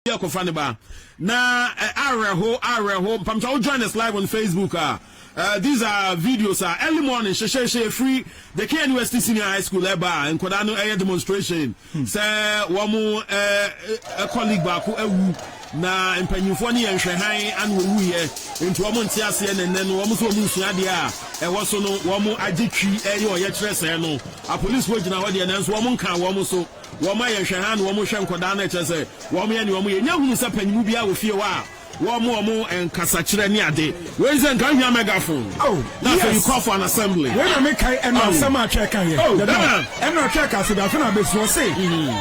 obi akɔfa ne ba na eh, awerɛho awerɛho mpamkyɛ wo join us live on facebook a Uh, these are videos a uh, early morning hyehyɛhyɛ free the KNUST senior high school ɛba a nkɔdaa no ɛyɛ demonstration hmm. sɛ wɔn ɛkɔ league baako awu na mpanyinfoɔ ne yɛn hwɛ han ana wɔwu yɛ nti wɔn nte aseɛ nɛnɛ no wɔn nso wɔn nsua adeɛ a ɛwɔ so no wɔn agye twi ɛyɛ ɔyɛkyerɛ sɛɛ no apolisifoɔ gyina hɔ deɛ nanso wɔn nka wɔn so. Wɔn a yɛhwɛ ha no, wɔhwɛ nkwadaa no, ɛkyerɛ sɛ wɔyɛ nea wɔyɛ. Nya hunu sɛ panyin biara wɔ fie hɔ a wɔma wɔn nkasakyerɛ ne ade. Wei sɛ nka ohia megaphone na afei you call for an assembly. Wei na mekae ɛno asɛm a Twɛɛ kaeɛ dada. Ɛno a Twɛɛ kaa sɛ bɛafe no abɛsi, ɔse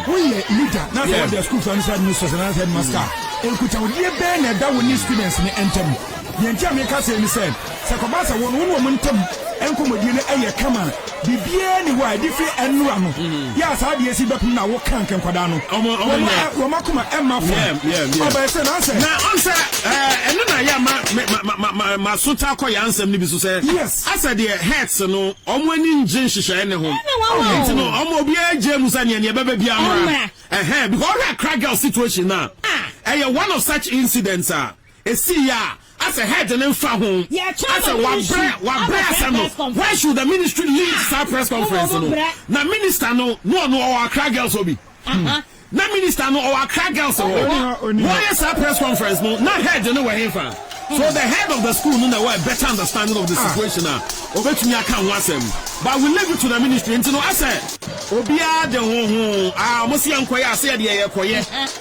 woyɛ leader na sɛ wode asukuu faa no sɛ administrators anaasɛ headmaster a, nkutahodie bɛn na ɛda wo ne students no ntam? Deɛ nti a meka sei ne sɛ, sɛ ɛkɔba sɛ wo no wo ne wɔn ntam nkɔmmɔdie no yɛ kama a, Biribiara nni hɔ a ɛde fi ɛno ano yɛ a saa adeɛ si bɛpem na wo kank nkwadaa no. Wɔma ɛ, wɔma kuma ɛmma fam. Yeah, yeah, yeah. Ɔbɛyɛ sɛ na sɛ. Na ɔn sɛ ɛɛ ɛno na yɛ ma me ma ma ma ma ma so taa kɔ yɛ ansɛm no bi so sɛ. Yes. Asɛ deɛ hertz no ɔmo ani ngye nhyehyɛɛ ne ho. Ɛna wɔn wɔ. Nti no ɔmo obiara gye mu sɛ neɛ neɛ ɛbɛba biara mmra. Ɛmmra. Ɛhɛn because ɔhwɛ akra girl situation no a. Ah. Ɛyɛ one of such incidents a. esii a asɛ head no nfa ho asɛ wabrɛ wabrɛ asɛm no why should the ministry lead saa press conference no na minister no na ɔno ɔwɔ akra girls hɔ bi na minister no ɔwɔ akra girls hɔ wɔyɛ saa press conference no na head no wɔ he fa so the head of the school no na ɛwɔ a better understanding of the situation a obetumi aka ho asɛm but we leave it to the ministry nti no asɛ obiara de ho ho a wɔn se yɛn kɔyɛ ase yɛ deɛ yɛ kɔyɛ.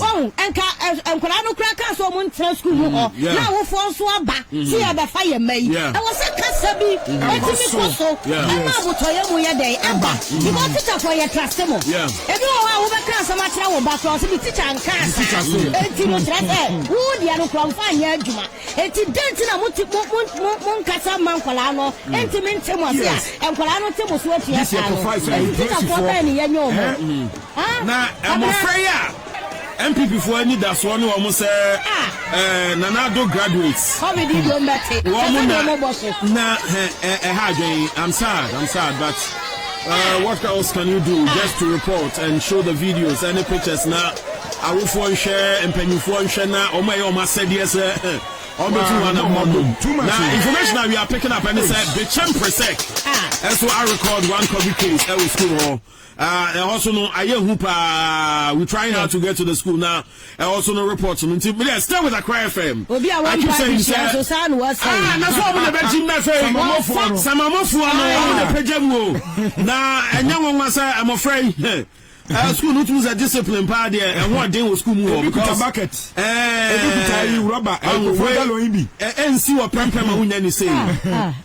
Wahu, nka nkwadaa no koraa kaa sɛ wɔntena sukuu mu hɔ, mm, na awofoɔ nso aba sɛ mm-hmm. yɛbɛfa yɛn mma yi. Ɛwɔ sɛ kasa bi mm-hmm. ɛtumi kɔ so ɛma abotɔyɛ mu yɛ dɛn ɛba. Mm-hmm. Because tikyafoɔ yɛ tra se mo. Ebi wɔ hɔ a wobɛka asɛm akyerɛ wo ba koraa ɔsɛ bi tikya nka asa. Eti no kyerɛ sɛ wo deɛ no koraa nfa nyɛ adwuma. Eti dɛn ti na mo ti mo mo mo nkasa ma nkwadaa no enti mm. mi nte mo ase a nkwadaa no te mo so atua saa no. Tikyafoɔ bɛn ne yɛ nyɛ wɔn. Na mmɔfra yi a NPP foɔ anidasoɔ ne wɔn sɛ Nana Addo graduates wɔn na na ɛha adwene I'm sad I'm sad but uh, what else can you do just to report and show the videos any pictures na awofoɔ nhwɛ mpanyinfoɔ nhwɛ na wɔn a ɛyɛ wɔn asɛdeɛ sɛ wɔn bɛ tu wɔn anamɔ no na information that we are picking up ɛne sɛ Bekyem Presec ɛso a record one COVID case ɛwɔ school hɔ. Ah ɛhɔ so no ayɛ hu paa we trying hard to get to the school na ɛhɔ so no report no nti medeɛ stay with Accra FM Obi a wɔmpa adesua nso saa na wɔasɛe. Ah na sɛ ɔmo na ɛbɛgye mu afei Samamofoɔ no. Samamofoɔ no ɔmo na ɛpagya mu o na ɛnyɛ nwanwa sɛ mmɔfra yi hɛ school no tumi sɛ discipline paa deɛ ɛho ɔden wɔ school mu hɔ Ebi kuta bucket, ebi kuta yi rubber, ebi kuta galon yi bi. ɛnsi wɔ prɛmpɛ ma wonya ni sei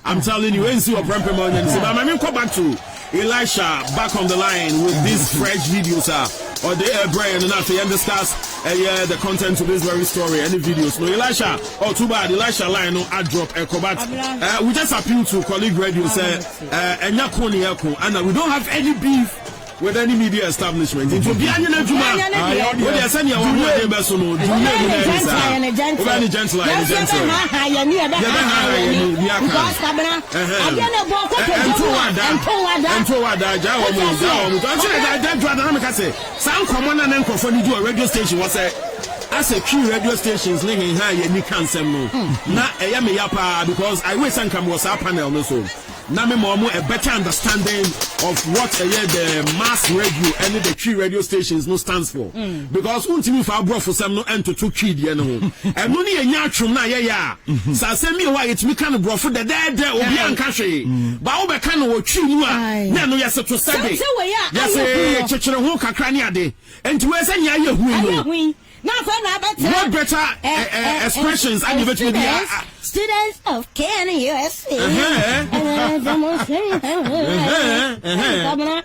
I'm telling you ɛnsi wɔ prɛmpɛ ma wonya ni sei but ma menkɔ back to Elisha back on the line with these fresh videos a ɔde ɛbrɛ yɛn no na afei yɛn discuss ɛyɛ the content to this very story ɛne videos no Elisha oh too bad Elisha line no a drop ɛkɔ but uh, we just appeal to colleague radio sɛ uh, ɛnyɛ ko ne yɛ ko ɛna we don't have any beef with any media establishment nti obi anyɛ n'adwuma o deɛ sɛnea wɔn mu ɛde bɛso no dwuma mu na ɛde saa wobɛ ne gentle ayɛ ne gentle yɛbɛ ha ha yɛ ni ni aka. Adeɛ no ɛbɔ nkotodwe mu a, ɛnto wo ada. Ɛnto wo ada, gyaa wɔn o, gyaa wɔn o. Nti ɔkyerɛ da, da dwoada na meka sɛ, saa nkɔmmɔ no a na nkurɔfoɔ ani gye wɔ radio station hɔ sɛ, asɛ Twi radio stations ne heha a yɛn ani ka nsɛm no, na ɛyɛ me ya pa ara because I wish sɛ nka mewɔ saa panel no so na me ma wɔn a better understanding of what ɛyɛ the mass radio ɛne the Twi radio stations no stands for. Because wontumi mfa aborɔfosɛm no ntoto Twi deɛ no ho. Ɛno ne yɛnya atwom no a yɛyɛ a, sɛ asɛm bi wɔ hɔ a yɛtumi ka no borɔfo dɛdɛɛdɛ, obiara nka hwee. But wobɛka no wɔ Twi mu a, na ɛno yɛse to sɛ de, yɛse kyekyere ho kakra ne ade. Enti wei sɛ nea ayɛ hui no, what better expressions a na yɛbɛtumi de a. Students of KNUST, Ɛhɛɛɛɛ, Ɛhɛɛɛɛ, Ɛhɛɛɛɛ, Ɛhɛɛɛɛ.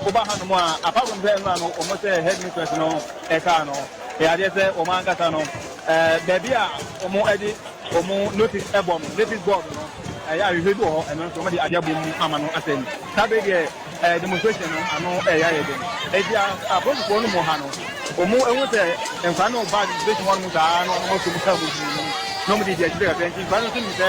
Woba hanom a, apart from sɛ mmerɛ a no wɔn sɛ headmistress no ɛkaa no, ɛyɛ adeɛ sɛ wɔn ankasa no baabi a wɔn de wɔn notice ɛbɔ no, notice board no, ɛyɛ ahwehwɛ bi wɔ hɔ, ɛno nso wɔn de adeɛ abɔ mu ama no asɛe no. Saa berɛ yi deɛ demonstration no ano ɛyɛ ayɛ den, enti apolisifoɔ no mu ha no, wɔn ahu sɛ nkwadaa no reba demonstration hɔnom saa na wɔn aso mu kaa mu pii na wɔn de di akyire kakra nti nkwadaa no nso nim sɛ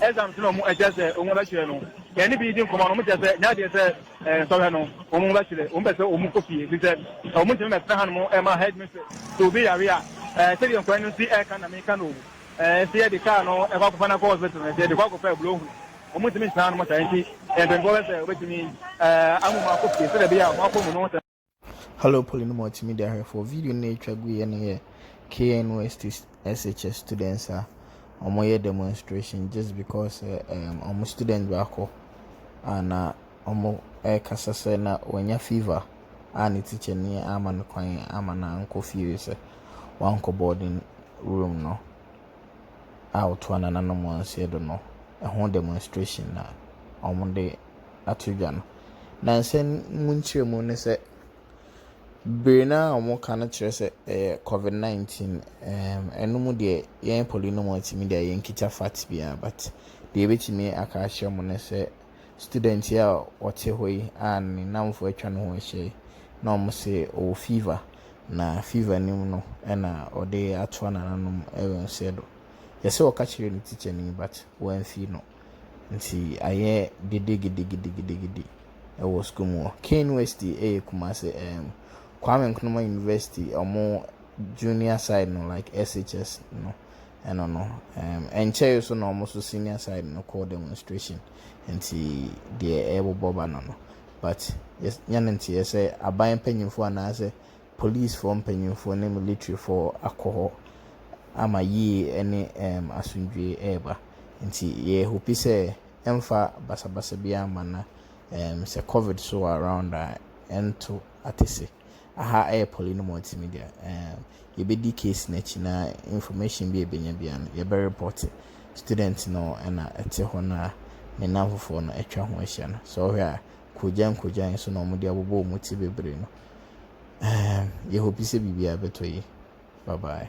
Exams na wɔn kyerɛ sɛ wɔn bɛ kyerɛ no, yɛn ne bi di nkɔmɔ no, wɔn kyerɛ sɛ n'adeɛ sɛ nsɔhwɛ no wɔn bɛ kyerɛ, wɔn pɛ sɛ wɔn kɔ fie, efisɛ wɔn ntumi mɛ tena hanom ɛma headmistress, sɛ obi yare a, ɛɛ sɛdeɛ nkɔɛ no si ɛɛka na meka no o, ɛɛ sɛ yɛde car no ɛkɔ akɔfa no akɔ hospital no, sɛ yɛde kɔ akɔfa aburo ho, wɔn ntumi ntena hanom saa, nti mpanyinfoɔ bɛ sɛ wɔbɛtumi ɛɛ amu wɔn akɔ fie, sɛdeɛ ɛbɛyɛ a wɔn akɔ mu no ho sɛ. Hello Poly no Multimedia hwɛfoɔ, video no a ɛtwa gu yɛ no yɛ KNUST SHS students a wɔyɛ demonstration just because um, wɔn student baako a na wɔrekasa sɛ na wanya fever a ne teacher ni ama no kwan ama no ankɔ fie sɛ wankɔ boarding room no a wɔtoa nananom wɔn nseɛ do no ɛho demonstration na wɔde ato dwa no. Na nsɛm mu nkyerɛmu ne sɛ, bere no a wɔka no kyerɛ sɛ ɛyɛ covid 19. Ɛɛm, ɛno mu deɛ yɛn poli no mu atumi deɛ yɛnkita fact biara but deɛ yɛbɛtumi aka akyerɛ mo ne sɛ student yi a ɔte hɔ yi a ne nnamfo atwa ne ho ahyia yi na wɔn se ɔwɔ fever na fever no mu no ɛna ɔde atoa n'ananom ɛwɔ nseɛ do. Yɛsɛ ɔka kyerɛ ne teacher no yi but wɔamfi no. Nti ayɛ gede gede gede gede gede ɛwɔ sukuu mu hɔ. Kane West ɛyɛ Kumasi ɛɛm Kwame Nkrumah University ɔmo junior side no like SHS no ɛno no ɛɛm ɛnkyɛɛ so na ɔmo so senior side no kɔɔ demonstration nti deɛ ɛɛbobɔ ba no no but yɛ nya ne nteɛ sɛ aban panyinfoɔ anaasɛ polisfoɔ mpanimfoɔ ne militirifoɔ akɔ hɔ ama yie ne asomdwoeɛ reba. Nti yɛhope sɛ ɛmfa basabasa biara mma na sɛ covid nso wɔ around a, ɛnto atese. Aha yɛ Pɔli no Mɔti Media. Yɛbɛdi case no akyi na information biara a yɛbɛnya biara no, yɛbɛrepɔte student no na ɛte hɔ no a ne nnamfofoɔ no atwa ho ahyia no. Sɛ wohwɛ a, kogyan-kogyan so na wɔde abobɔ wɔn ti bebree no. Ɛɛm, yɛ hopi sɛ biribiara bɛtɔ yie. Bye bye.